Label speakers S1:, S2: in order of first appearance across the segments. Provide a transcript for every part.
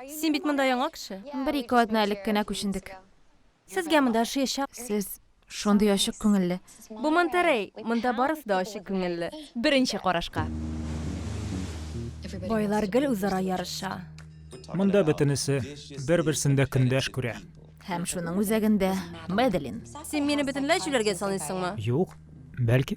S1: Син бит монда яңа кеше. Бер-ике атна элек кенә
S2: күчендек. Сезгә монда
S1: ошыячак. Сез шундый
S2: ачык күңелле. Бу Монтерей,
S1: монда барысы да ачык күңелле. Беренче карашка. Байлар гел үзара ярыша. Монда
S3: бөтенесе бер-берсендә көндәш күрә. Һәм шуның
S2: үзәгендә Медлин. Син мине бөтенләй
S1: җүләргә саныйсыңмы? Юк,
S3: бәлки.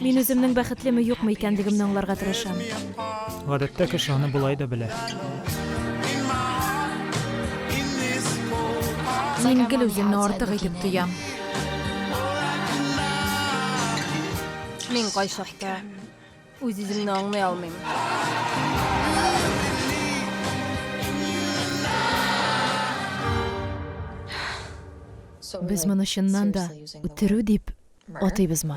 S4: Мин үземнең бәхетлеме
S1: юкмы икәнлегемне аңларга тырышам. Гадәттә
S3: кеше аны болай да белә.
S4: Мин гел үземне артык
S2: итеп тоям.
S1: Мин кайчакта Үз-үземне аңлый алмыйм. Без моны чыннан да үтерү дип атыйбызмы?